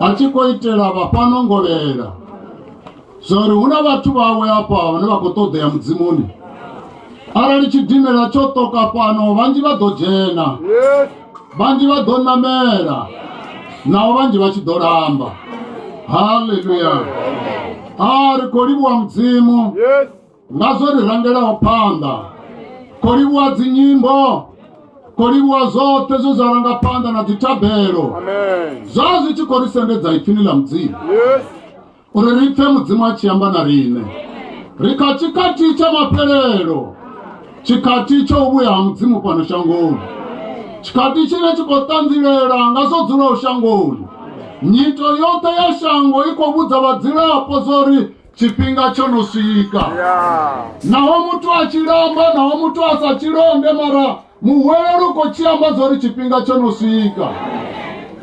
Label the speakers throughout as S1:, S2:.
S1: a tshi khou
S2: itela vha fhano ngovhela zwa uri hu na vhathu vhawe afha vhane vha khou ṱoḓea mudzimuni arali tshidimela tsho ṱoka fhano vhanzhi vha ḓo dzhena
S1: vhanzhi vha ḓo
S2: ṋamela naho vhanzhi vha tshi ḓo lamba haleluya a ri khou livhuwa mudzimu nga
S1: zwo ri rangelaho
S2: phanḓa kho livhuwa dzinyimbo kho livhuwa zwoṱhe zwe zwa ranga phanḓa na dzithabelo zwa
S1: zwi tshi khou ri
S2: sendedza ipfini ḽa mudzimu
S1: uri ri pfe
S2: mudzimu a tshi amba na riṋe ri kha tshikhathi tsha maphelelo tshikhathi tsho u vhuya ha mudzimu fhano shangoni tshikhathi tshine tshi khou ṱanzilela nga zwo dzulaho shangoni nyito yoṱhe ya shango i khou vhudza vhadzulapo zwa uri Tshifhinga tsho no swika.
S1: Naho muthu a
S2: tshi lamba, naho muthu a sa tshi lombe, mara muhwelelo u khou tshi amba zwa uri tshifhinga tsho no swika.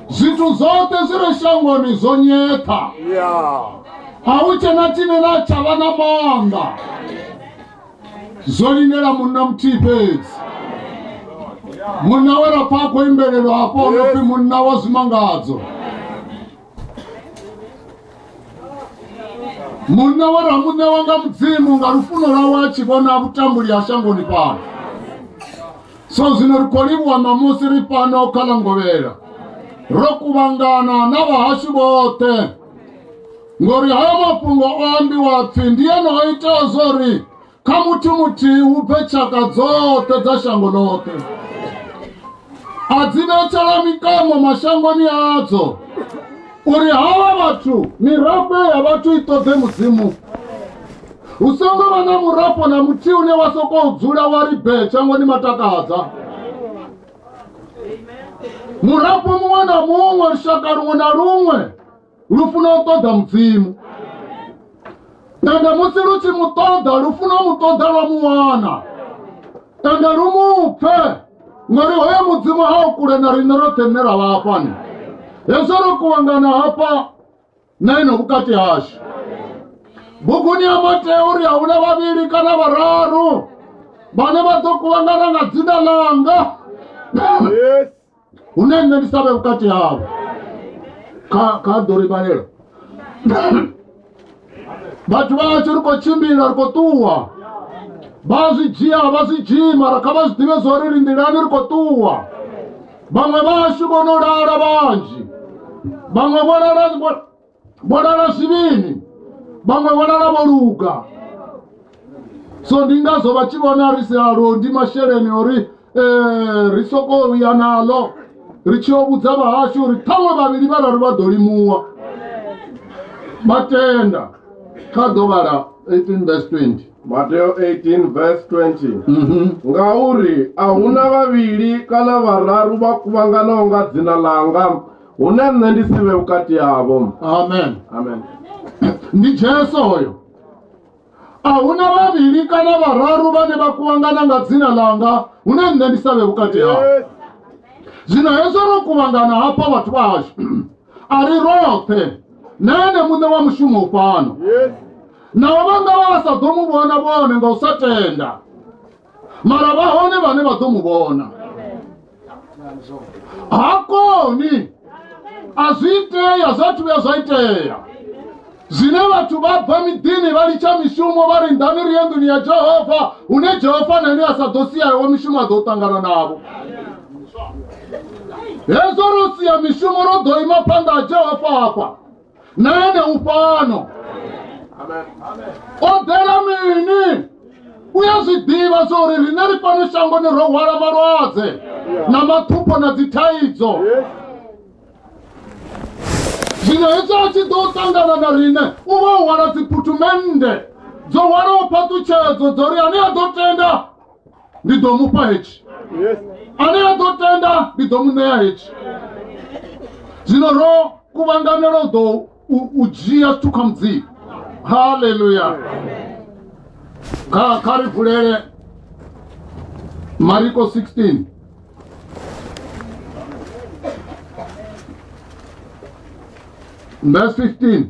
S2: Zwithu zwoṱhe zwi re shangoni zwo nyetha.
S1: A hu tshe
S2: na tshine na tsha vha na maanḓa. Zwo lindela munna muthihi fhedzi. Munna we ra pfa a khou imbelelwa hafho o no pfi munna wa zwimangadzo. munna wa ramuṋe wa nga mudzimu nga lufuno lwawe a tshi vhona vhutambuli ha shangoni fhano so zwino ri khou livhuwa ṋamusi ri fhano kha ḽa ngovhela ro kuvhangana na vhahashu vhoṱhe ngori hayo mafhungo o ambiwa pfhi ndi ene o ita zwo ri kha muthu muthihi hu bve tshaka dzoṱhe dza shango ḽoṱhe a dzi vhetshela mikamo mashangoni adzo uri havha vhathu mirafho ya vhathu i ṱoḓe mudzimu hu songo vha na murafho na muthihi une wa sokou dzula wa ri bee shangoni matakadza murafho muṅwe na muṅwe lushaka luṅwe na luṅwe lufuno u ṱoḓa mudzimu ende musi lu tshi mu ṱoḓa lufuno mu ṱoḓa lwa mu wana ende lu mu pfe ngori hoyo mudzimu ha u kule na riṋe roṱhe nṋe ra vha hafhani hezwo ro kuvhangana hafha na ino vhukati hashu buguni ya matea uri a huna vhavhili kana vhararu vhane vha ḓo kuvhangana nga dzina langa yes
S1: hune
S2: nṋe ndi savhe vhukati havho kha kha ḓo ri vhalela vhathu vhashu ri khou tshimbila ri khou ṱuwa vha zwi dzhia vha zwi dzhii mara kha vha zwi ḓivhe zwa uri ri nḓilani ri khou ṱuwa vhaṅwe vhashu vho no lala vhanzhi vhaṅwe vho lala vho lala zwivhini vhaṅwe vho lala vho luga so ndi ngazwo vha tshi vhona ri silalo ndi masheleni ori um ri sokou ya naḽo ri tshi yo vhudza vhahashu uri ṱhaṅwe vhavhili vhararu vha ḓo limuwa vha tenda kha ḓo vhala 18 vs 20 Mateo 18
S1: verse 20 ngauri a huna vhavhili kana vhararu vha kuvhanganaho nga dzina langa hune nṋe ndi si vhe vhukati havho amen amen ndi
S2: jesu hoyo a huna vhavhili kana vhararu vhane vha kuvhangana nga dzina ḽanga hune nṋe ndi sa vhe vhukati havho zwino hezwo ro kuvhangana hafha vhathu vhashu a ri roṱhe na ene muṋe wa mushumo u fhano
S1: naho vha nga
S2: vha vha sa ḓo mu vhona vhone nga u sa tenda mara vha hone vhane vha ḓo mu vhona ha koni a zwi itea zwa thu vhuya zwa itea zwine vhathu vha bva miḓini vha litsha mishumo vha ri nḓani ri ye nḓuni ya jehova hune jehova na ene a sa ḓo sia iwe mishumo a ḓo ṱangana navho hezwo ro sia mishumo ro ḓo ima phanḓa ha jehova hafha nane ufhano
S1: o ḓela
S2: mini u ya zwi ḓivha zwa uri riṋe ri fhano shangoni ro hwala malwadze na mathupho na dzithaidzo zwino hezwo a tshi ḓo ṱangana na riṋe u vha u hwala dziphuthumennde dzo hwalaho phaṱutshedzo dzo ri ane a ḓo tenda ndi ḓo mu fha hetshi ane a ḓo tenda ndi ḓo mu ṋea hetshi zwino ro kuvhanganela u ḓo u dzhia zwithu kha mudzimu haleluya kha ri vulele mariko 16 verse 15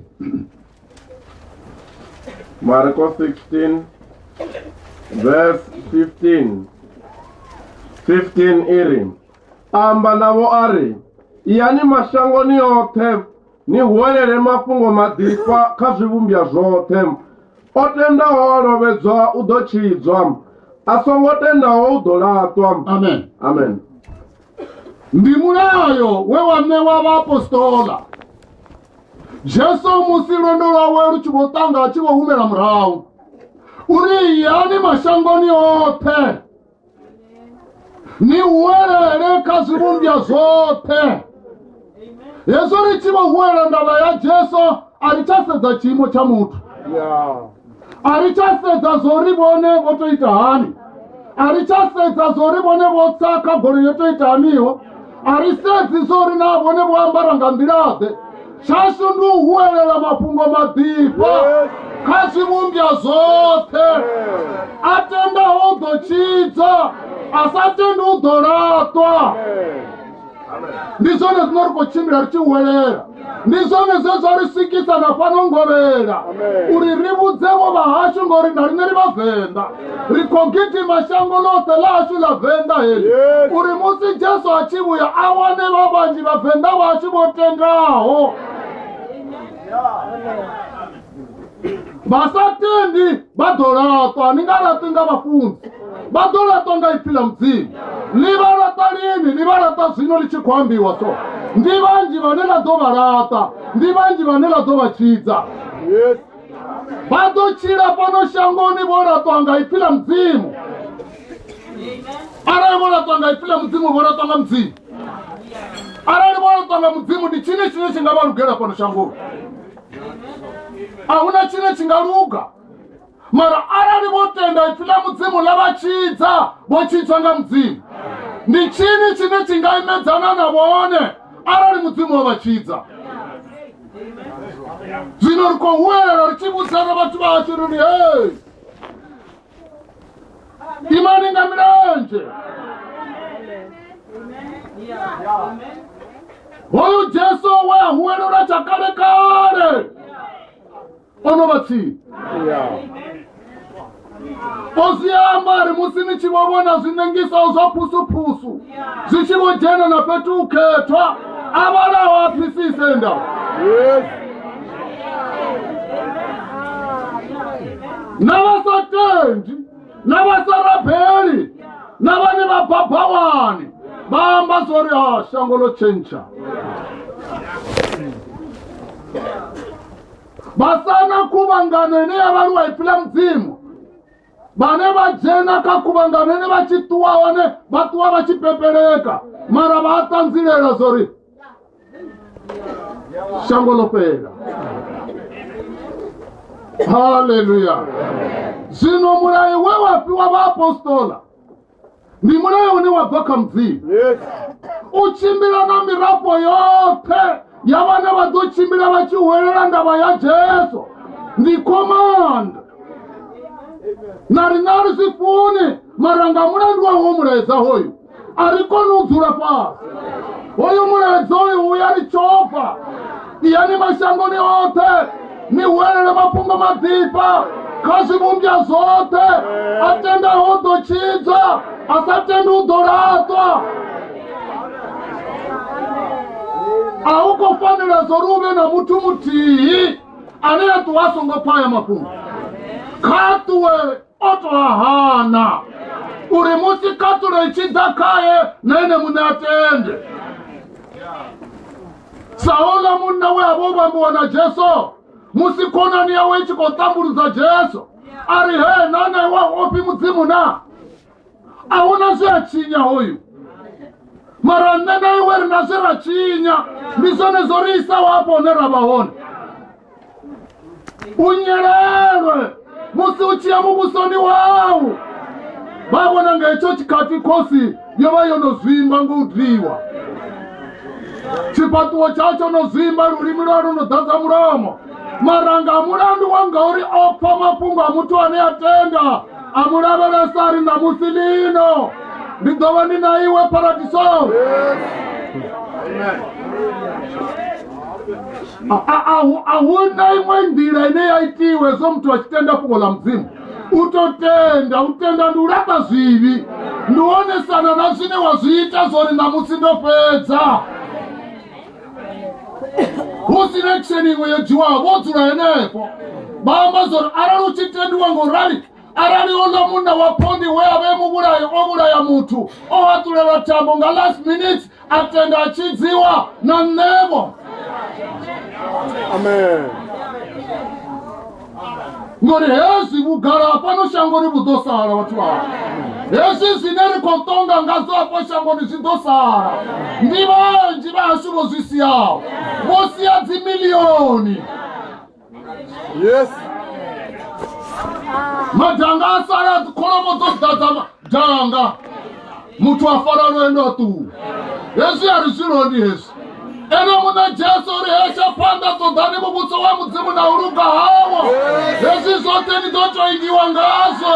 S1: Marcos 16, verse 15. 15 iri amba navho a ri iyani mashangoni oṱhe ni huwelele mafhungo maḓifha kha zwivhumbwa zwoṱhe o tendaho a lovhedzwa u ḓo tshidzwa a songo tendaho u ḓo laṱwa Amen. amen ndi mulayo
S2: we wa ṋewa vhaapostola jesu musi lwendo lwawe lu tshi vho ṱanga a tshi vho humela murahu uri yani mashangoni oṱhe ni huwelele kha zwivhumbwa zwoṱhe hezwo ri tshi vho huwela ndavha ya jesu a ri tsha sedza tshiimo tsha muthu a ri tsha sedza zwo ri vhone vho to ita hani a ri tsha sedza zwo ri vhone vho tsa kha golo yo to ita haniho a ri sedzi zwo ri na vhone vho ambara nga nḓilaḓe tshashu ndi u huwelela mafhungo maḓifha kha zwivhumbya zwoṱhe a tendaho u ḓo tshidza a sa tendi u ḓo laṱwa ndi zwone zwino ri khou tshimbila ri tshi huwelela ndi zwone zwe zwa ri swikisa na fhano ngovhela uri ri vhudzevo vha hashu ngori na riṋe ri vhavenḓa ri khou gidima shango ḽoṱhe ḽa hashu ḽa venḓa heli Yes. uri musi jesu a tshi vhuya a wane vha vhanzhi vhavenḓa vhashu vho tendaho vha sa tendi vha ḓo laṱwa ni nga laṱwi nga vhafunzi vha ḓo laṱwa nga ipfi ḽa mudzimu ni vha laṱa lini ni vha laṱa zwino ḽi tshi khou ambiwa so ndi vhanzhi vhane ḽa ḓo vha laṱa ndi vhanzhi vhane ḽa ḓo vha tshidza vha ḓo tshila fhano shangoni vho laṱwa nga ipfi ḽa mudzimu arali vho laṱwa nga ipfi ḽa mudzimu vho laṱwa nga mudzimu arali vho laṱwa nga mudzimu ndi tshini tshine tshi nga vha lugela fhano shangoni ahuna tshine tshi nga luga mara arali vho tenda ipfi ḽa mudzimu ḽa vha tshidza vho tshintswa nga mudzimu ndi tshini tshine tshi nga imedzana na vhone arali mudzimu o vha tshidza zwino ri khou huwelela ri tshi vhudzana vhathu vha hashu ri ri hei imani nga milenzhe hoyu jesu we a huwelelwa tsha kale kale o no vha tsini o zwi amba ri musi ni tshi vho vhona zwiṋengiswa zwa phusuphusu zwi tshi vho dzhena na fhethu u khethwa a vhalaho a phisise nda Yes. na vha sa tendi na vha sa rabeli na vhane vha bva bhawani vha amba zwo ri ha shango ḽo tshentsha vha sana khuvhangano ine ya vha lwa ipfi ḽa mudzimu vhane vha dzhena kha khuvhangano ine vha tshi ṱuwa hone vha ṱuwa vha tshi pepeleka mara vha a ṱanzilela zwo ri shango ḽo fhela haleluya zwino mulayo we wa fhiwa vhaapostola ndi mulayo une wa bva kha mudzimu Yes. u tshimbila na mirafho yoṱhe ya vhane vha ḓo tshimbila vha tshi hwelela ndavha ya jesu ndi command na riṋe a ri zwi funi mara nga mulandu wa wo mulaedza hoyu a ri koni u dzula fhasi hoyu mulaedza hoyu u ya ri tshofa siyani mashangoni oṱhe ni huelele mafhungo maḓifha kha zwivhumbwa zwoṱhe a tendaho u ḓo tshidzwa a sa tendi u ḓo laṱwa a hu khou fanela zwo ri u vhe na muthu muthihi ane a ṱuwa a songo pfa aya mafhungo kha ṱuwe o to a hana uri musi khaṱulo i tshi ḓa khaye na ene muṋe a tende saula munna we a vha o vhambiwa na jesu musi khonani yawe i tshi khou tambuludza jesu a ri he na na iwe ofhi mudzimu na a hu na zwe a tshinya hoyu mara nṋe na iwe ri na zwe ra tshinya ndi zwone zwo ri isaho hafho hune ra vha hone unyelelwe musi u tshiya muvhusoni wau vha vhona nga hetsho tshikhathi khosi yo vha yo no zwimba ngo u dliwa tshifhaṱuwo tsha tsho no zwimba lulimi lwa lu no ḓadza mulomo maranga a mulandu wa ngauri o pfa mafhungo a muthu ane a tenda a mu lavhelesa ri ṋamusi lino ndi ḓo vha ndi na iwe paradisoni A- a- ahu- ahuna imwe nḓila ine ya itiwa hezwo muthu a tshi tenda fhungo ḽa mudzimu u to tenda u tenda ndi u lamba zwivhi ndi u onesana na zwine wa zwi ita zwori ṋamusi ndo fhedza hu si na action iṅwe yo dzhiwaho vho dzula henefho vha amba zwori arali u tshi tendiwa ngo rali arali uno munna wa phondi we a vhe muvhulayo o vhulaya muthu o haṱulelwa thambo nga last minute a tenda a tshidziwa na nṋevho
S1: amen
S2: ngori hezwi vhugala hafhano shangoni vhu ḓo sala vhathu vha hezwi zwine ri khou ṱonga ngazwo hafho shangoni zwi ḓo sala ndi vhanzhi vha hashu vho zwi siyaho vho siya dzimilioni
S1: yes
S2: madanga a sala kholomo dzo ḓadza madanga muthu a fara lwendo a ṱuwa hezwi a ri zwi loni hezwi ene muṋe jesu ri hesha phanḓa ṱoḓani muvhuso wa mudzimu na u luga hawo hezwi zwoṱhe ni ḓo toingiwa ngazwo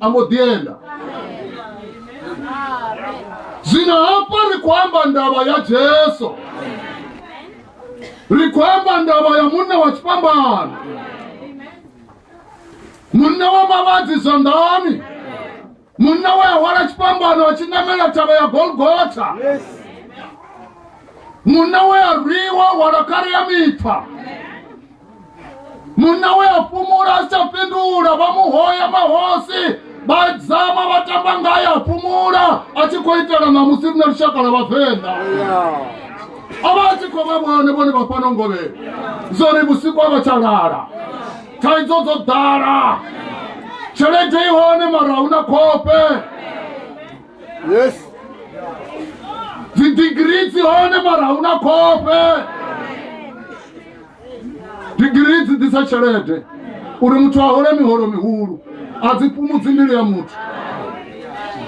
S2: a mbo ḓi enda zwino hafha ri khou amba ndavha ya jesu ri khou amba ndavha ya munna wa tshifhambano munna wa mavhadzi zwanḓani munna we a hwala tshifhambano a tshi namela thavha ya golgotha
S1: munna
S2: we a rwiwa hwala khare ya mipfa munna we a fhumula a sa fhindula vha mu hoya mahosi vha dzama vha tamba ngaye a fhumula a tshi khou itela ṋamusi rine lushaka lwa vhavenḓa a vha a tshi khou vha vhone vhone vha fhano ngovhela zwo ri vhusiku a vha tsha lala thaidzo dzo ḓala tshelede i hone mara hu na khope
S1: yes
S2: dzidigiri dzi hone mara hu na khope digirii dzi ḓisa tshelede uri muthu a hole miholo mihulu a dzi fhumudzi mbilu ya muthu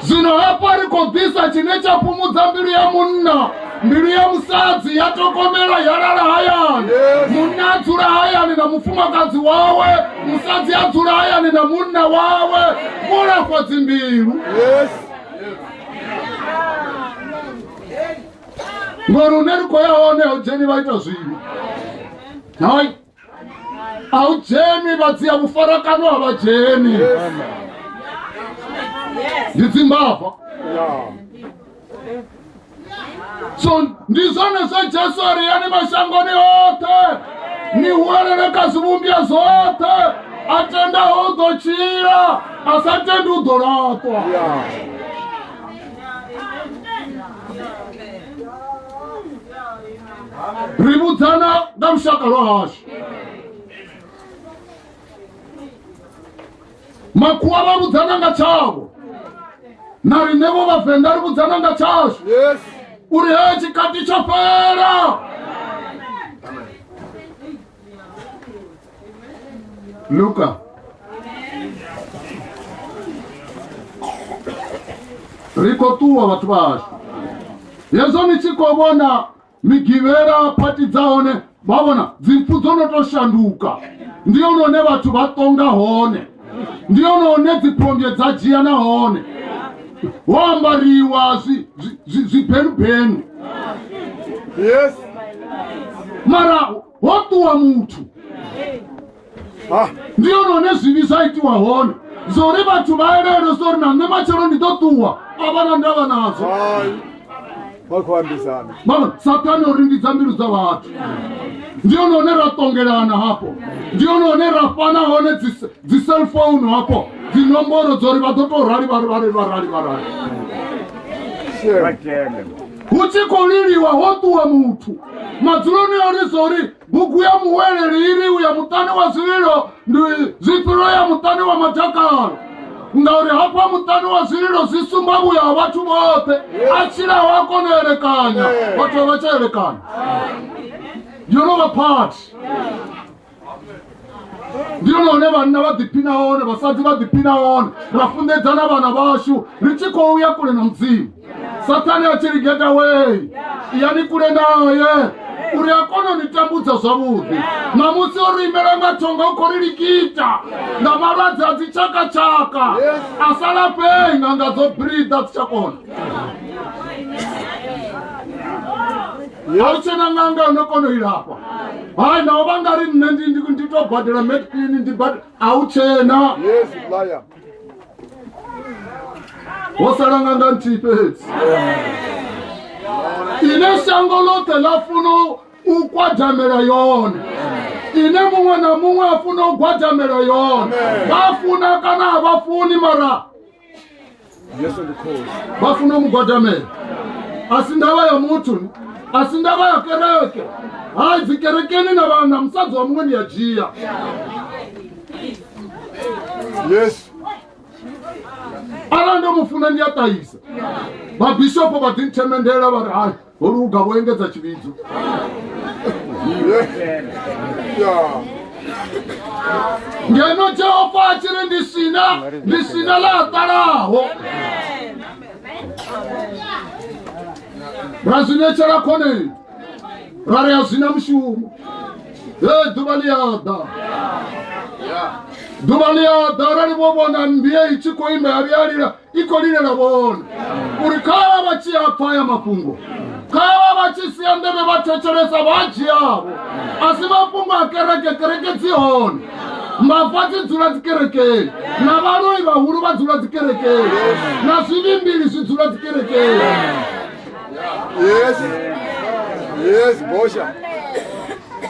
S2: zwino hafha ri khou ḓisa tshine tsha fhumudza mbilu ya munna mbilu ya musadzi ya tokomela ya lala hayani munna a dzula hayani na mufumakadzi wawe musadzi a dzula hayani na munna wawe vho lafha dzimbilu yes. ngori une ri khou ya hone a u dzheni vha ita zwino hai a u dzheni vha dzia vhufarakano a vha dzheni ndi dzimbava so ndi zwone zwa jesu a ri yani mashangoni oṱhe ni huwelele kha zwivhumbya zwoṱhe a tendaho u ḓo tshila a sa tendi u ḓo laṱwa ri vhudzana nga lushaka lwa hashu makhuwa vha vhudzana nga tshavho na riṋevho vhavenḓa ri vhudzana nga tshashu Yes.
S1: uri he
S2: tshikati tsho fhela Luka riko tuwa vhathu vhashu hezwo ni tshi khou vhona migivhela phati dza hone vha vhona dzimpfu dzo no tou shanduka ndi hone hune vhathu vha ṱonga hone ndi hone hune dziphondwe dza dzhia na hone ho ambariwa zwi- zwi- zwi- zwibhenubhenu yes mara
S1: wotuwa
S2: muthu Ah, ndi yonone zwivhi zwa itiwa hone zwa uri vhathu vha elele zwa uri na nṋe matshelo ndi ḓo ṱuwa a vha na ndavha nadzo hai. Vha khou ambisana. vhona sathane o rindidza mbilu dza vhathu ndi hone hone ra tongelana hafho ndi hone hone ra fhana hone dzi- dzi cellphone hafho dzinomboro dza uri vha ḓo tou rali vha rali vha rali vha rali Shame. hu tshi khou liliwa ho ṱuwa muthu madzuloni o lisa uri bugu ya muweleli i ri u ya muṱani wa zwililo ndi zwifhilo ya muṱani wa matakalo ngauri hafha muṱani wa zwililo zwi sumba vhuya ha vhathu vhoṱhe a tshilaho a kona u elekanya vhathu vha tsha elekanya you know the part ndi lone hune vhanna vha ḓiphina hone vhasadzi vha ḓiphina hone ra funḓedza na vhana vhashu ri tshi khou ya kule na mudzimu sathane a tshi ligeta wei yani kule naye uri a kone u ni tambudza zwavhuḓi ṋamusi o ri imela nga thonga u khou ri likita nga malwadze a dzitshakatshaka a sa lafhei nga nga dzo brida dzi tsha kona a hu tshena ṅanga yo no kona u ilafha hai naho vha nga ri nṋe ndi- ndi- ndi to badela medclin ndi bad- a hu tshena Yes, liar. ho sala ṅanga nthihi fhedzi ine shango ḽoṱhe ḽa funa u gwadamela yone ine muṅwe na muṅwe a funa u gwadamela yone vha funa kana a vha funi mara yesu ndi khosi vha funa u mugwadamela a si ndavha ya muthu a si ndavha ya kereke hai dzi kerekeni na vhana musadzi wa muṅwe ni ya dzhia yesu arali ndo mu funa ndi a ṱahisa vhabishopo vha ḓinthemendela vha ri hai ho luga vho engedza tshivhidzo ngeno jehova a tshi ri ndi sina ndi sina ḽa ṱalaho ra zwi netshela khoneni ra ri a zwi na mushumo he ḓuvha ḽi a ḓa ḓuvha ḽi a ḓa arali vho vhona mmbie i tshi khou ima ya vhiyalila iko lile la bona uri kava va tshi apfa ya mafhungo kava va tshi sia ndeme va thetshelesa vha dzhiavo a si mafhungo a kereke kereke dzi hone mbafha dzi dzula dzikerekeni na vhaloi vhahulu vha dzula dzikerekeni na zwivhimbili zwi dzula dzikerekeni Yes. Yes, Bosha.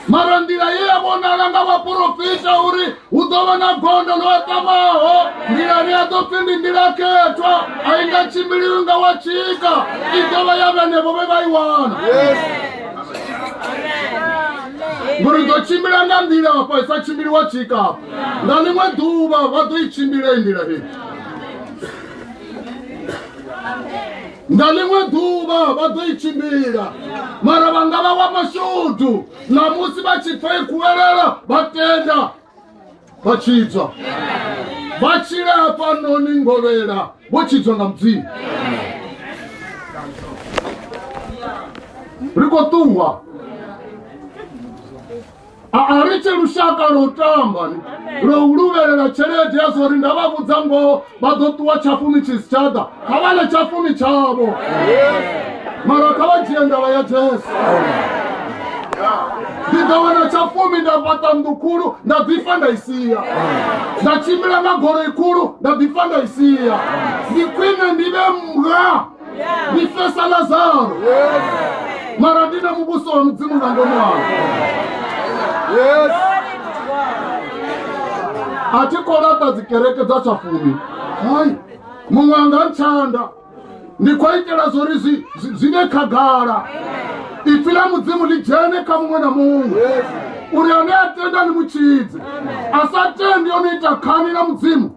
S2: mara nḓila ye ya vhonala nga vhaporofita uri hu ḓo vha na gondo ḽo aṱamaho nḓilani ya ḓo pfi ndi nḓila khethwa a i nga tshimbiliwi nga wa tshika i ḓo vha ya vhenevho vhe vha i wana ngori ḓo tshimbila nga nḓila afha i sa tshimbili wa tshika afha nga ḽiṅwe ḓuvha vha ḓo i tshimbila i nḓila hei nga ḽiṅwe ḓuvha vha ḓo i tshimbila mara vha nga vha wa mashudu ṋamusi vha tshi pfa i kuwelela vha tenda vha tshidzwa vha tshila hafhanoni ngovhela vho tshidzwa nga mudzimu ri khou ṱuwa a a ri tshi lushaka lwa u tamba ni lwa u luvhelela tshelede ya zwa uri nda vha vhudza ngoho vha ḓo ṱuwa tshafumi tshi si tsha ḓa kha vha ḽe tshafumi tshavho mara kha vha dzhie ndavha ya jesu ndi ḓo wana tshafumi nda fhaṱa nnḓu khulu nda ḓifha nda i sia nda tshimbila nga goloi khulu nda ḓifha nda i sia ndi khwine ndi vhe mga Yeah. We face Lazaro. Yeah. Mara ndine mubuso wa mudzimu nga ngomu wao. Yes. A thi khou laṱa dzikereke dza tsha fumi. Hai. Muṅwe anga ntshanda. Ndi khou itela zwo ri zwi zwi vhe khagala. Ipfi ḽa mudzimu ḽi dzhene kha muṅwe na muṅwe. Yes. uri ane a tenda ni mutshidze a sa tendi o no ita khani na mudzimu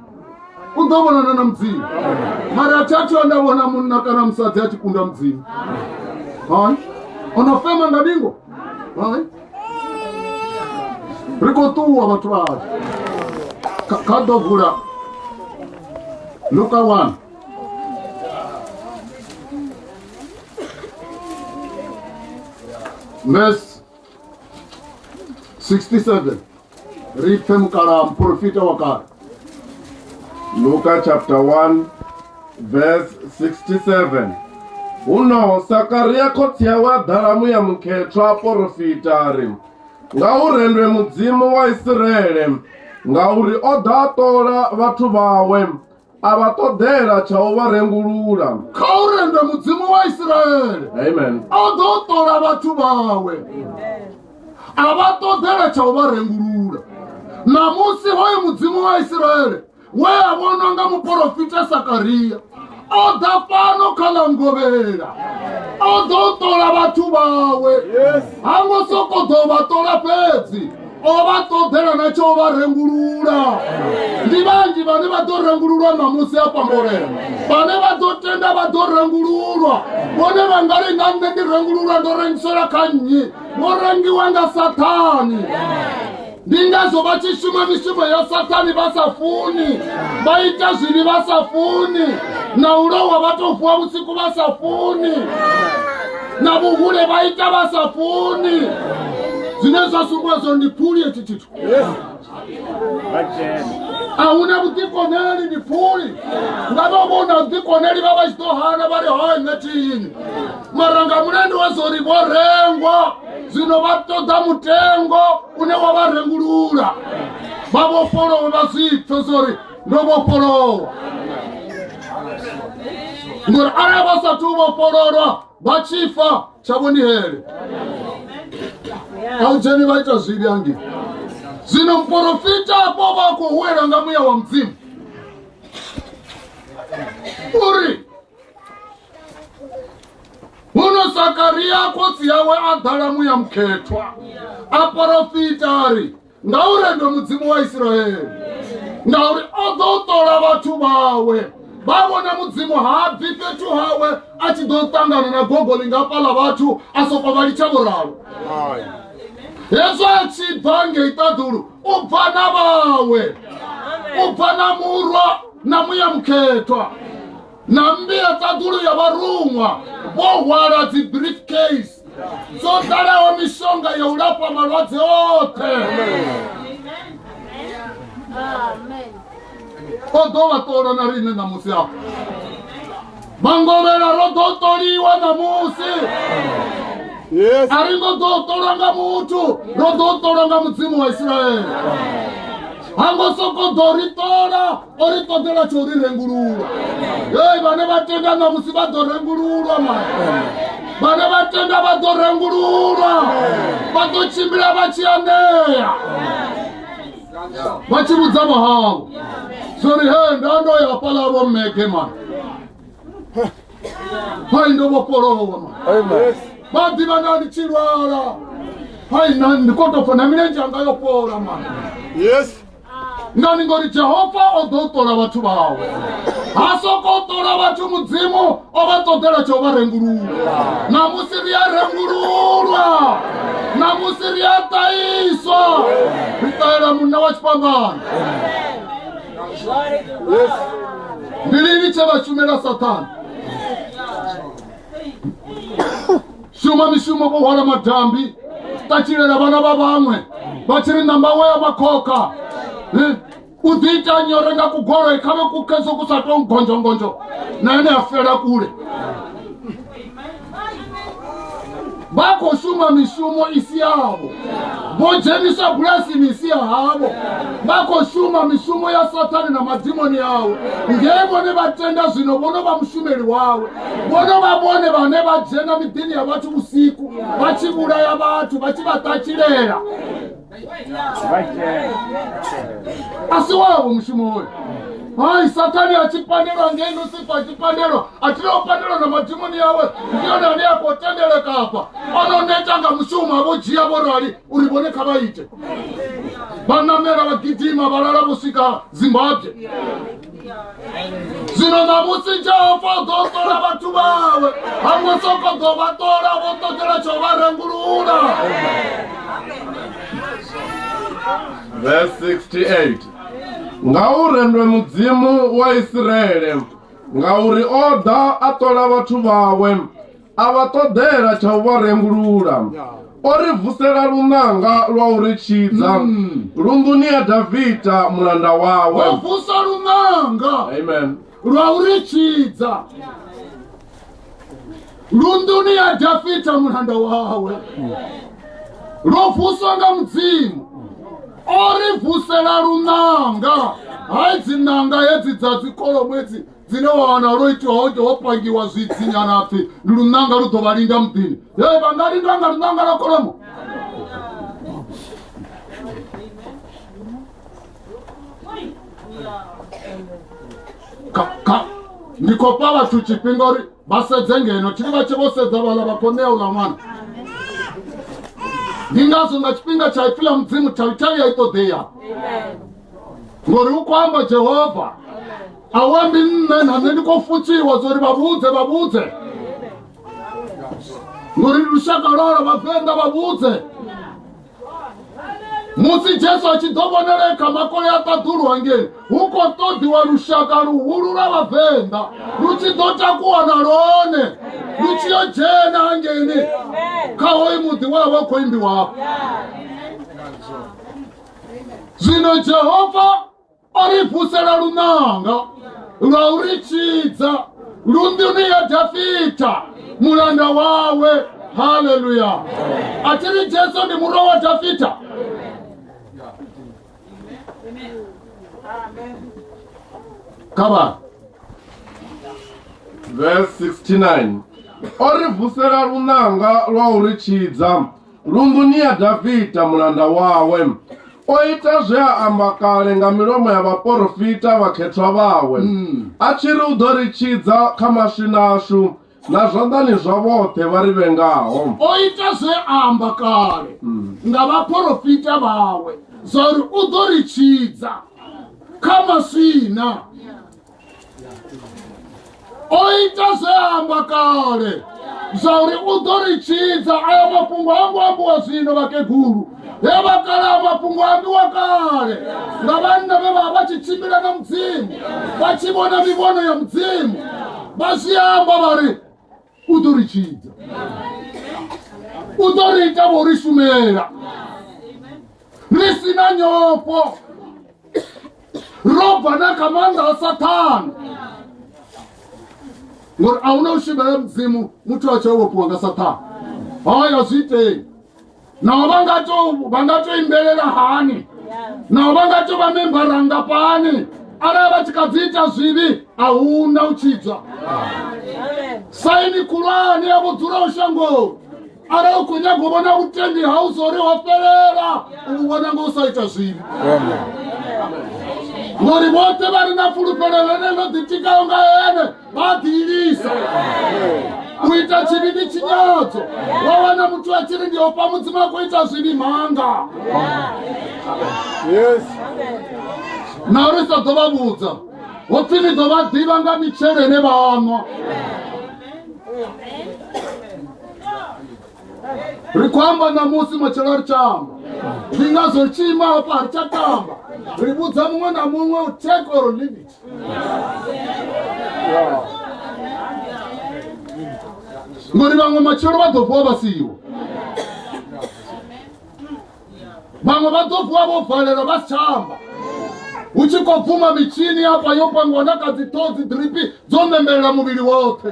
S2: u ḓo vhonana na mudzimu mara a thi a thio nda vhona munna kana musadzi a tshi kunda mudzimu hai o no fema nga ndingo hai ri khou ṱuwa vhathu vhashu kha ḓo vula luka one verse 67 ri pfe mukalaha muporofita wa kale
S1: luka chapter 1 verse 67 huno sakaria khotsi yawe a ḓala muya mukhethwa a porofita a ri nga u rendwe mudzimu wa isiraele ngauri o ḓa a ṱola vhathu vhawe a vha ṱoḓela tsha u vha rengulula kha u renda
S2: mudzimu wa isiraele amen o ḓo
S1: ṱola
S2: vhathu vhawe a vha ṱoḓela tsha u vha rengulula ṋamusi hoyo mudzimu wa isiraele we a vhonwa nga muporofita sakaria o ḓa fhano kha ḽa ngovhela o ḓo ṱola vhathu vhawe ha ngo sokou ḓo vha ṱola fhedzi o vha ṱoḓela na tsha u vha rengulula ndi vhanzhi vhane vha ḓo rengululwa ṋamusi a pambolela vhane vha ḓo tenda vha ḓo rengululwa vhone vha nga ri na nṋe ndi rengululwa ndo rengisela kha nnyi vho rengiwa nga sathani ndi ngazwo vha tshi shuma mishumo ya sathani vha sa funi vha ita zwivhi vha sa funi na u lowa vha tou vuwa vhusiku vha sa funi na vhuhule vha ita vha sa funi zwine zwa sumbula zwo ndi phuli hetshi tshithu a hu na vhuḓikoneli ndi phuli nga vha vho na vhuḓikoneli vha vha tshi ḓo hana vha ri hoyo nṋe tiyini mara nga mulandu wa zwo ri vho rengwa zwino vha ṱoḓa mutengo une wa vha rengulula vha vhofholowe vha zwi pfe zwo ri no more follow ngori arali vha sa thu vhofhololwa vha tshi fa tshavho ndi hele a u dzheni vha ita zwivhi hangi zwino muporofita afho vha khou huwelwa nga muya wa mudzimu uri huno sakariya khotsi yawe a ḓala muya mukhethwa a porofita a ri ngauri ndo mudzimu wa isiraele ngauri o ḓo ṱola vhathu vhawe vha vhona mudzimu ha bvi fhethu hawe a tshi ḓo ṱangana na gogo lingafhaḽa vhathu a soko vha litsha vhuralo hezwo a tshi bva ngei ṱaḓulu u bva na vhawe u bva na murwa na muya mukhethwa na mmbi ya ṱaḓulu ya vharuṅwa vho hwala dzi brief case dzo ḓalaho mishonga ya u lafha malwadze oṱhe o ḓo vha ṱola na riṋe ṋamusi afho mangovhela ro ḓo ṱoliwa ṋamusi a ri ngo ḓo ṱolwa nga muthu ro ḓo ṱolwa nga mudzimu wa isiraele ha ngo soko ḓo ri ṱola o ri ṱoḓela tsho ri rengululwa hei vhane vha tenda ṋamusi vha ḓo rengululwa mara vhane vha tenda vha ḓo rengululwa vha ḓo tshimbila vha tshi anea vha tshi vhudza vhahavho zwo ri he nda ndo ya fhala vho mmege mara hai ndo vhofholowa mara vha ḓivha na ndi tshi lwala hai na ndi kotofa na milenzhe anga yo fhola mara yes ngani ngori jehova o ḓo ṱola vhathu vhawe ha soko ṱola vhathu mudzimu o vha ṱoḓela tsha u vha rengulula namusi ri a rengululwa namusi ri a ṱaiswa ri ṱahela munna wa tshifhambano ndi lini tshe vha shumela sathana shuma mishumo vho hwala madambi ṱatshilela vhana vha vhaṅwe vha tshi ri ṋamba wo ya vha khokha Eh, u ḓi ita nyore nga kugoloi kha vhe kukeso ku sa tou ngonjongonjo na ene a fela kule vha khou shuma mishumo i si yavho vho dzhenisa bulasini i si ya havho vha khou shuma mishumo ya sathane na madimoni awe ngei vhone vha tenda zwino vho no vha mushumeli wawe vhono vha vhone vhane vha dzhena miḓini ya vhathu vhusiku vha tshi vhulaya vhathu vha tshi vha ṱatshilela a si wavho mushumo hoyo hai sathane a tshi pandelwa ngei lusifa a tshi pandelwa a thi leo pandelwa na madimoni yawe ndi yone ane a khou tendelekafha o no neta nga mushumo a vho dzhia vho rali uri vhone kha vha ite vha namela vha gidima vha lala vho swika zimbabwe zwino ṋamusi jehova u ḓo ṱola vhathu vhawe hango soko ḓo vha ṱola vho ṱoḓela tsho vha rengulula Verse 68
S1: Ngauri ndwe mudzimu wa Isiraele ngauri o ḓa a ṱola vhathu vhawe a vha ṱoḓela tsha u vha rengulula o ri vusela lunanga lwa u ri tshidza hmm. lunḓuni ya davida mulanda wawe o vusa
S2: lunanga amen
S1: lwa u ri
S2: tshidza lunḓuni ya davida mulanda wawe lwo vuswa nga mudzimu o ri vusela lunanga hai dzinanga hedzi dza dzikolo ṅwedzi dzine wa wana lwo itiwa ho ita ho pangiwa zwidzi nyana apfi ndi lunanga lu ḓo vha linda muḓini e vha nga lindwa nga lunanga lwa kholomo ndi khou pa vhathu tshifhinga uri vha sedze ngeno tshiri vha tshe vho sedza vhala vha khou ṋea uḽa ṅwana ndi ngazwo nga tshifhinga tsha ipfi ḽa mudzimu thavithavi ya i ṱoḓeya ngori u khou amba jehova awa ndi nṋe na nṋe ndi khou futsiwa zwa uri vha vhudze vha vhudze ngori ndi lushaka lwalo vhavenḓa vha vhudze musi jesu a tshi ḓo vhonele kha makole a ṱaḓulwa ngei hu khou ṱoḓiwa lushaka luhulu lwa vhavenḓa lu tshi ḓo takuwa na lwone lu tshi yo dzhena hangeni kha hoyu muḓi wa vha u khou imbiwapo zwino jehova o ri vusela lunanga lwa u ri tshidza lunḓuni ya dafita mulanda wawe haleluya a thi ri jesu ndi murwa wa dafita kha vhana
S1: verse 69 o ri vusela lunanga lwa u ri tshidza lunḓuni ya dafita mulanda wawe o ita zwe a amba kale nga milomo ya vhaporofita vhakhethwa vhawe mm. a tshi ri u ḓo ri tshidza kha maswina ashu na zwanḓani zwa vhoṱhe vha ri vhengaho o ita zwe
S2: a amba kale mm. nga vhaporofita vhawe zwa uri u ḓo ri tshidza kha maswina o ita zwe a amba kale zwa uri u ḓo ri tshidza aya mafhungo ha ngo ambiwa zwino vhakegulu he vha kale a mafhungo a ambiwa kale nga vhanna vhe vha vha tshi tshimbila na mudzimu vha tshi vhona mivhono ya mudzimu vha zwi amba vha ri u ḓo ri tshidza u ḓo ri ita vho ri shumela ri si na nyofho ro bva na kha maanḓa a sathana ngori a hu na u shumela mudzimu muthu a tshi o vhofhiwa nga sathana haya zwi itei naho vha nga to vha nga to imbelela hani naho vha nga to vha membara ngafhani arali vha tshi kha dzi ita zwivhi a hu na u tshidzwa saini khulwane ya vhudzulaho shangoni arali u khou nyaga u vhona vhutendi hau zwo ri ho fhelela u vhona ngo u sa ita zwivhi ngori vhoṱhe vha re na fulufhelo ḽene ḽo ḓitikaho nga ene vha ḓiilisa u ita tshivhi ndi tshinyadzo wa wana muthu a tshiri ndi ofha mudzimu a khou ita zwivhi manga yes na uri sa ḓo vha vhudza hopfi ni ḓo vha ḓivha nga mitshelo ine vha nwa ri khou amba ṋamusi matshelo a ri tsha amba ndi ngazwo ri tshi ima hafha a ri tsha tamba ri vhudza muṅwe na muṅwe u take or leave it ngori vhaṅwe matshelo vha ḓo vuwa vha siho vhaṅwe vha ḓo vuwa vho valelwa vha si tsha amba hu tshi khou bvuma mitshini hafha yo pangiwa na kha dziṱhodzi dripi dzo ṋembelela muvhili woṱhe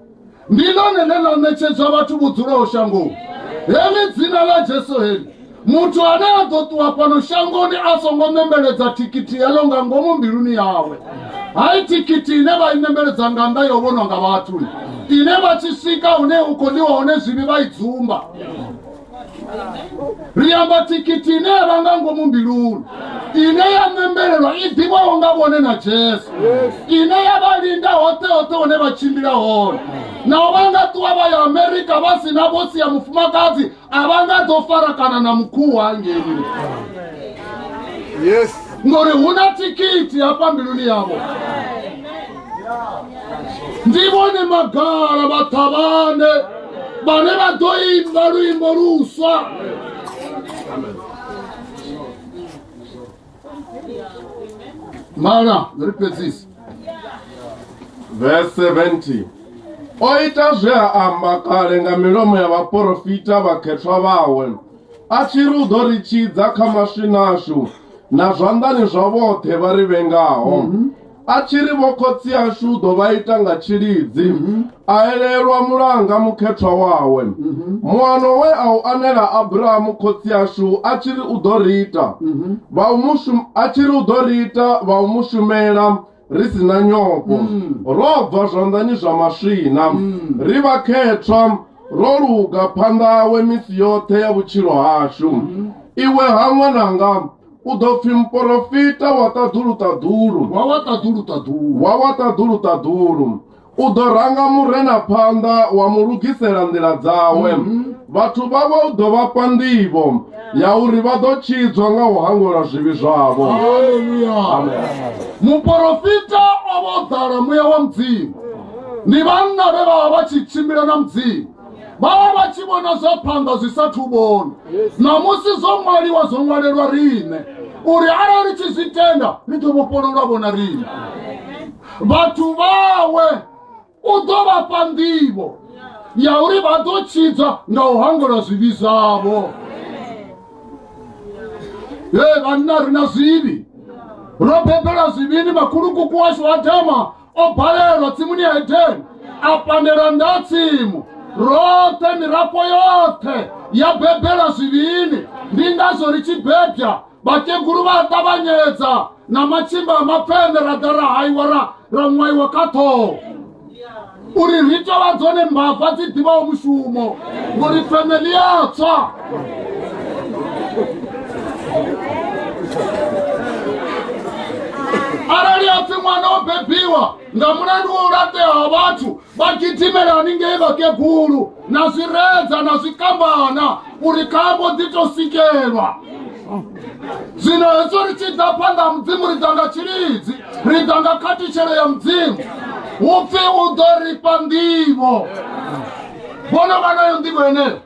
S2: ndi ḽone ḽe ḽa ṋetshedzwa vhathu vho dzulaho shangoni heḽi dzina ḽa jesu heḽi muthu ane a ḓo ṱuwa fhano shangoni a songo ṋembeledza thikhithi heḽo nga ngomu mbiluni yawe hai thikhithi ine vha i ṋembeledza nga nnḓa ya u vhonwa nga vhathu ine vha tshi swika hune u khou ḽiwa hone zwivhi vha i dzumba liamba tikiti ineyavanga ngo mumbilulu ine ya membelelwa i ḓivhaho nga vhone na jesu ine ya vha linda hoṱhe hoṱhe hune vha tshimbila hone naho vha nga ṱuwa vha ya amerika vha si na vhotsi ya mufumakadzi a vha nga ḓo farakana na mukhuwa ngeni
S1: Yes. ngori hu na
S2: thikhithi hafha mbiluni yavho ndi vhone magala vhaṱhavhane vhane vha ḓo imba luimbo luswa mana ri fhedzisa verse
S1: 70 o ita zwe a amba kale nga milomo ya vhaporofita vhakhethwa vhawe a tshi ri u ḓo ri tshidza kha maswinashu na zwanḓani zwa vhoṱhe vha ri vhengaho a tshi ri vho khotsi ashu u ḓo vha ita nga tshilidzi mhm. a elelwa mulanga mukhethwa wawe mhm. muano we a u anela abrahamu khotsi ashu a tshi ri u ḓo ri ita mhm. a tshi ri u ḓo ri ita vha u mu shumela ri si na nyofho mm. ro bva zwanḓani zwa maswina mm. ri vha khethwa ro luga phanḓa awe misi yoṱhe ya vhutshilo hashu iwe ha ṅwananga u ḓo pfi muporofita wa ṱaḓuluṱaḓulu wa wa ṱaḓuluṱaḓulu wa wa ṱaḓuluṱaḓulu u ḓo ranga murena phanḓa wa mu lugisela nḓila dzawe mhm. vhathu vhawe u ḓo vha fha nḓivho ya uri vha ḓo tshidzwa nga u hangwelwa zwivhi zwavho
S2: muporofita o vha o ḓala muya wa mudzimu ndi vhanna vhe vha vha vha tshi tshimbila na mudzimu vha vha vha tshi vhona zwa phanḓa zwi sa thu vhona ṋamusi zwo ṅwaliwa zwo ṅwalelwa riṋe uri arali tshi zwi tenda ri ḓo vhofhololwa vhona riṋe vhathu vhawe u ḓo vha fha nḓivho ya uri vha ḓo tshidzwa nga u hangolwa zwivhi zwavho e vhanna ri na zwivhi ro bebela zwivhini makhulukuku washu adama o balelwa tsimuni ya edeni a pandela nda tsimu roṱhe mirafho yoṱhe ya bebela zwivhini ndi ngazwo ri tshi bebya vhakegulu vha a ṱavhanyedza na matshimba a mapfene ra ḓa ra haiwa ra ra ṅwaiwa kha ṱhoho uri ri tovha dzone mbava dzi ḓivhaho mushumo ngori family yatswa arali apfi mwana o bebiwa nga mulandu wa u latea ha vhathu vha gidimela haningei vhakegulu na zwiredza na zwikambana uri khambo ḓi to sikelwa zwino hezwo ri tshi ḓa phanḓa ha mudzimu ri ḓa nga tshilidzi ri ḓa nga khathutshelo ya mudzimu hu pfi u ḓo ri fha nḓivho vhono vha nayo nḓivho yeneyo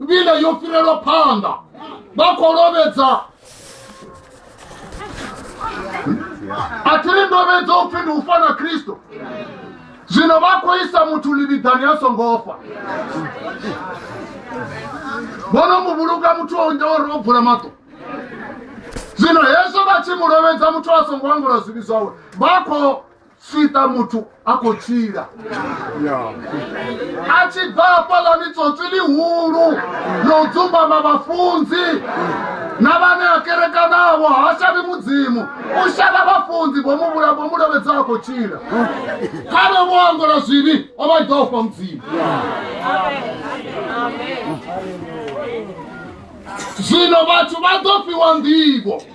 S2: nḓila yo fhirelwa phanḓa vha khou lovhedza a thi ri ndovhedzo upfi ndi u fa na kristo zwino vha khou isa muthu ḽivhiḓani a songo fa vhono mu vhulunga muthu o nda uri o bvula maṱo zwino hezwo vha tshi mu lovhedza muthu a songo angula zwivhi zwawe vha khou sita muthu a khou tshila a tshi bva hafhaḽani tsotsi ḽihulu ḽo dzumbama vhafunzi na vhane a kerekanavho ha shavhi mudzimu u shavha vhafunzi vho mu vhula vho mu lovhedza a khou tshila kharwe vho angola zwivhi o vha ḓa u fha mudzimu zwino vhathu vha ḓo fhiwa nḓivho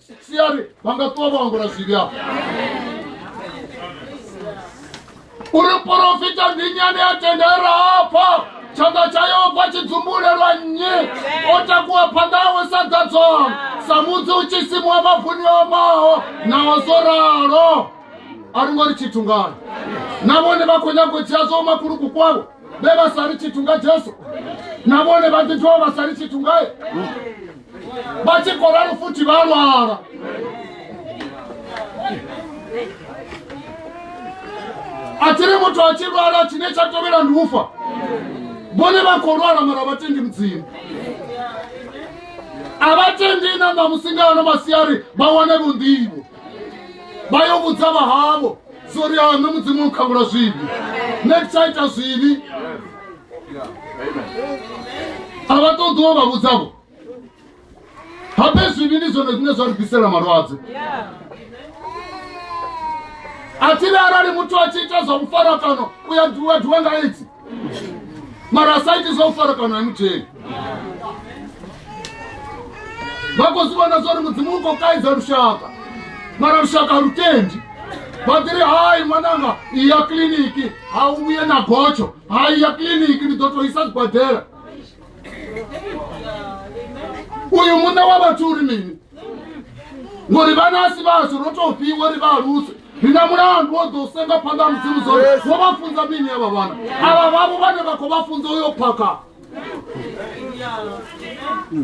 S2: siari vha nga ṱuwa vha angula zwivhi afho uri porofita ndi nyane ya tenda e ra afha tshanḓa tsha yehova tshi dzumbulelwa nnyi o takuwa phanḓa awe sa ḓadzwaho sa mudzi u tshi simuwa mavuni o maho naho zwo ralo a ri ngo ri tshithu ngani na vhone vha khou nyago dzhia zwo makuluku kwavho vhe vha sa ri tshithu nga jesu na vhone vha ḓi dovha vha sa ri tshithu ngae vha tshi khou ralo futhi vha lwala a tshi ri muthu a tshi lwala tshine tsha tovhela ndi ufa vhone vha khou lwala mara vha tendi mudzimu a vha tendi na ṋamusi nga ano masiari vha wane vhunḓivho vha yo vhudza vha havho zori ha nṋe mudzimu u khavhula zwivhi nṋe ndi tsha ita zwivhi a vha ṱoḓiwo vha vhudzavho habe zwivhi ndi zwone zwine zwa ri ḓisela malwadze a thi le arali muthu a tshi ita zwa mufarakano u ya duwa nga idzi mara asaitisa u farakana emuthengi vha khou zwi vhona zwori mudzimu u khou kaidza lushaka mara lushaka lu tendi vha ḓiri hai ṅwananga i ya kiḽiniki ha u vhuye na gotsho ha i ya kiḽiniki ndi ḓo tou isa zwibadela uyu muṋe wa vhathu uri mini ngori vhana asi vhashu ro tou fhiwa ri vha aluse ri na mulandu wo ḓo senga phanḓa ha mudzimu zone wo vha funza mini avha vhana avha vhavho vhane vha khou vha funza uyo phakha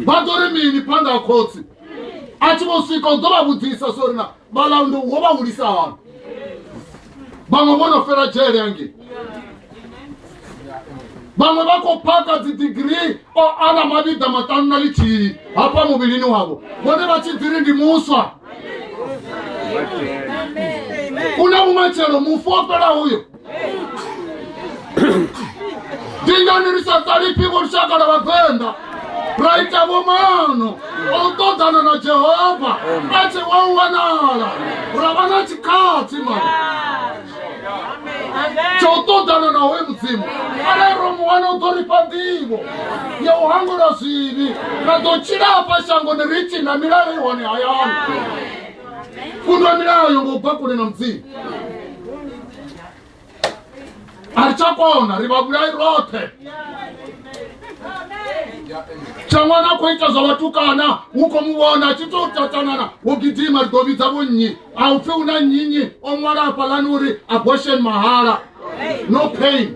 S2: vha ḓo ri mini phanḓa ha khotsi a tshi vho swika u ḓo vha vhudzisa sori na vhalauli wo vha hulisa hani vhaṅwe vho no fela dzhele yangei vhaṅwe vha khou phaka dzidigirii o ana mavhiḓa maṱanu na lithihi hafha muvhilini wavho vhone vha tshi ḓiri ndi muswa u na vhumatshelo mufu o fhela uyo ndinyani ri sa ṱalifhi vho lushakala vhavenḓa ra ita vhomano o u ṱoḓana na jehova a tshi wa u wanala ra vha na tshikhathi mani tsha u ṱoḓana na hoyu mudzimu arali ro mu wana u ḓo ri fha nḓivho ya u hangula zwivhi ra ḓo tshila hafha shangoni ri tshi na milayo i hone hayani fundwa milayo ngo bva kule na mudzimu a ri tsha kona ri vha vhulai roṱhe tsha ṅwana a khou ita zwa vhatukana hu khou mu vhona tshi tou tatanana wo gidima ri ḓo vhidza vho nnyi a u pfhi hu na nnyinyi o ṅwala hafhalani uri abortion mahala no pain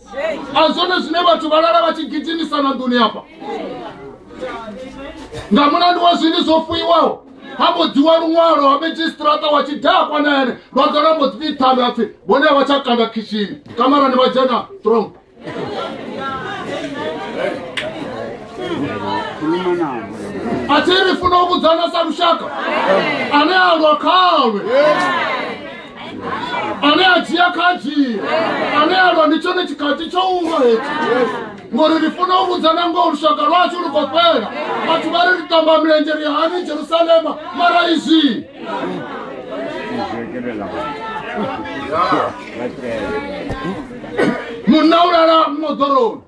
S2: a zwone zwine vhathu vha lala vha tshi gidimisa na nḓuni hafha nga mulandu wa zwini zwo fuiwaho ha mbo dziwa luṅwalo ha medzhisitirata wa tshidakwa na ene vha ḓo na mbo dzi ṱhanga pfhi vhone a vha tsha kanda khishini kamarani vha dzhena strong a thi ri funa u vhudzana sa lushaka ane a lwa khalwe ane a dzhia kha a dzhie ane a lwa ndi tshone tshikhathi tsho ulo hetshi ngori ri funa u vhudza na ngoho lushaka lwashu lu khou fhela vhathu vha ri ri tamba milenzhe ri hani jerusalema mara izwi munna u lala moḓoroni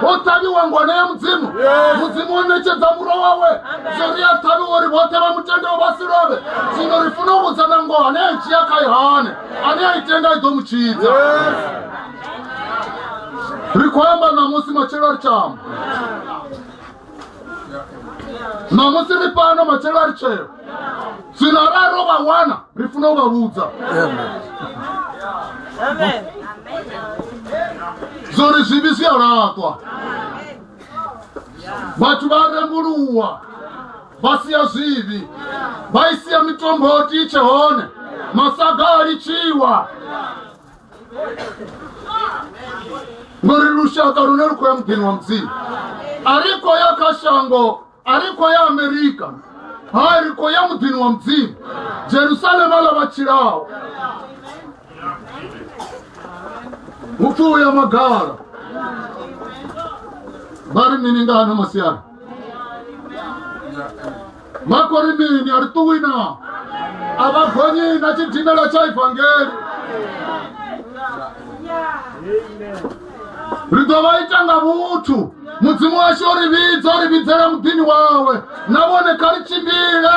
S2: ho ṱavhiwa ngwana ya mudzimu mudzimu o ṋetshedza muro wawe zwo ri a ṱhavhiwa uri vhoṱhe vha mutendeo vha si lovhe zwino ri funa u vhudza na ngoho ane a i dzhia kha yohane ane a i tenda i ḓo mu tshidza ri khou amba ṋamusi matshelo ri tshi amba namusi ri pano matshelo a ri tsheo dzina ra ro vha wana ri funa u vha vhudza zwo ri zwivhi zwi a laṱwa vhathu vha rembuluwa vha sia zwivhi vha i sia mitombo titshe hone masaga a litshiwa ngori lushaka lune lu khou ya muḓini wa mudzimu a ri khou ya kha shango a ri khou ya amerika ha ri khou ya muḓini wa mudzimu jerusalema ḽa vha tshilaho hupfi u ya magala vha ri mini nga hano masiari mako ri mini a ri ṱuwi na a vha gonyi na tshidimela tsha ivangeli ri ḓo vha ita nga vhuthu mudzimu washu o ri vhidza o ri vhidzela muḓini wawe na vhone kha ri tshimbile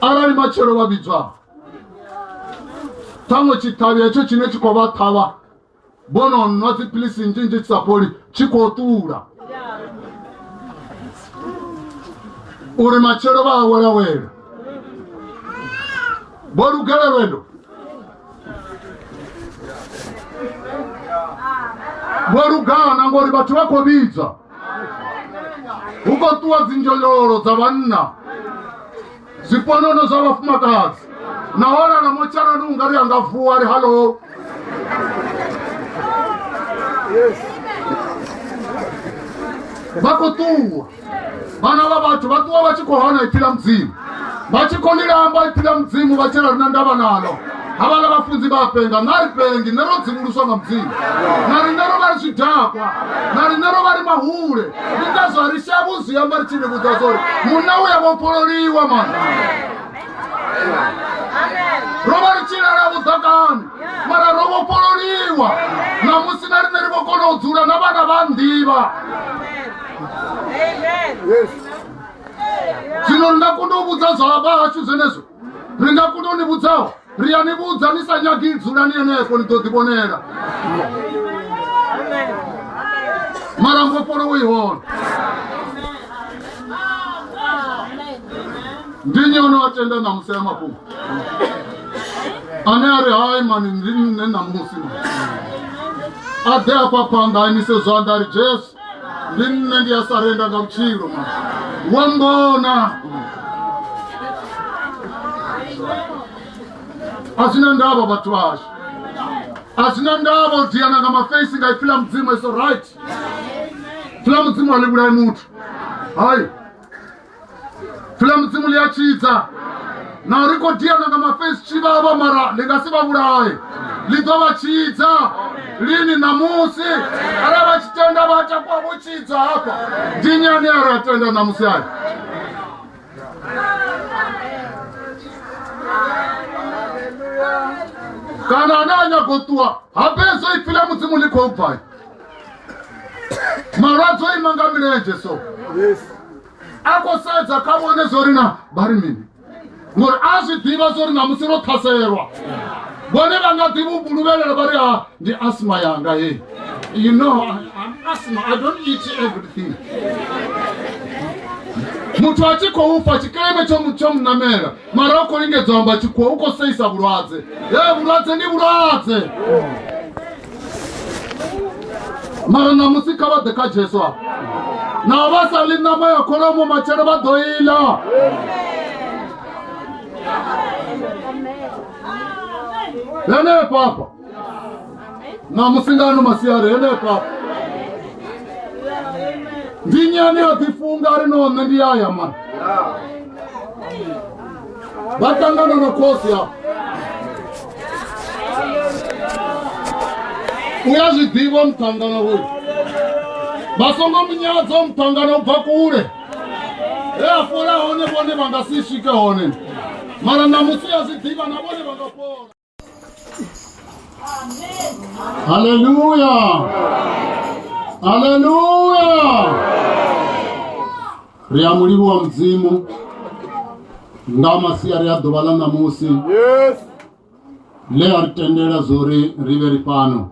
S2: arali matshelo vha vhidzwa ṱhaṅwe tshiṱhavhi hetsho tshine tshi khou vha ṱhavha vhono nwa dziphilisi nnzhi nnzhi tshi sa fholi tshi khou ṱula uri matshelo vha awelawela vho lugela lwendo vho lugana ngori vhathu vha khou vhidzwa hu khou ṱuwa dzinzhonyolo dza vhanna zwiponono zwa vhafumakadzi na holala motsharani u nga ri a nga vuwa ri hallo vha khou ṱuwa vhana vha vhathu vha ṱuwa vha tshi khou hana ipfi ḽa mudzimu vha tshi khou ḽi lamba ipfi ḽa mudzimu vha tshela rina ndavha nalo havhala vhafunzi vha penga na ri pengi nṋe ro dzimuluswa nga mudzimu na riṋe ro vha ri zwidakwa na riṋe ro vha ri mahule ndi ngazwo ri shavhu zwi amba ri tshi ni vhudza zwori munna u ya vhofhololiwa mana ro vha ri tshi lala vhuḓakani mara ro vhofhololiwa ṋamusi na riṋe ri vho kona u dzula na vhana vha nnḓivha Yes. zvino ri nga kona u vhudza zwa vha hashu zwenezwo ri nga kona u ni vhudzaho ri a ni vhudza ni sa nyagi dzulani henefho ni ḓo ḓivhonela mara mbofholowo i hone ndi nyi o no a tenda ṋamusi ya mafhungo ane a ri hai mani ndi nṋe ṋamusi a ḓe afha phanḓa a imise zwanḓa a ri jesu ndi nne ndi a sarenda nga vhutshilo ma wa mbona a zwi na ndavha vhathu vhashu a zwi na ndavha u diana nga mafeisi nga ipfila mudzimu iso right pfila mudzimu a livhulai muthu hayi fila mudzimu ḽi a tshidza na uri khou diana nga mafesi tshivhavha mara ḽi nga si vha vhulaye ḽi ḓo vha tshidza lini ṋamusi arali vha tshi tenda vha takuwa vho tshidzwa hafha dinyani a ri a tenda ṋamusi ayo kana ane a nyago ṱuwa ha fhedzo ipfi ḽa mudzimu ḽi khou bvai malwadze o ima nga milenzhe so a khou sedza kha vhone zwo ri na vha ri mini ngori a zwi ḓivha zwo ri na musi ro ṱhaselelwa vhone vha nga ḓivha u vhuluvhelela vha ri a ndi asma yanga heyi you know I'm asma i don't eat everything muthu a tshi khou fa tshikeme tsho mu- tsho munamela mara u khou lingedza u amba tshikhuwa u khou seisa vhulwadze e vhulwadze ndi vhulwadze mara ṋamusi kha vha ḓe kha jesu a na vha sa ḽi ṋama ya kholomo matshelo vha ḓo ila henefho afha na musingano masiari henefha ndi nyani a ḓifunga ri no nṋe ndi yaya mani vha ṱangana na khosi a u ya zwi ḓivha muṱangana hoyu vha songo munyadzo muṱangana u bva kule he a fola hone vhone vha nga si swike hone mara na musi ya zwi ḓivha na vhone vha nga fola Haleluya! Haleluya! Ri a mu livhuwa mudzimu nga masiari a ḓuvha ḽa ṋamusi Yes. ḽe a ri tendela zwo ri ri vhe ri fhano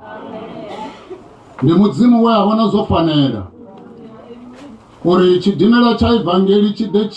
S2: ndi mudzimu we a vhona zwo fanela uri tshidimela tsha evangeli tshi ḓe tshi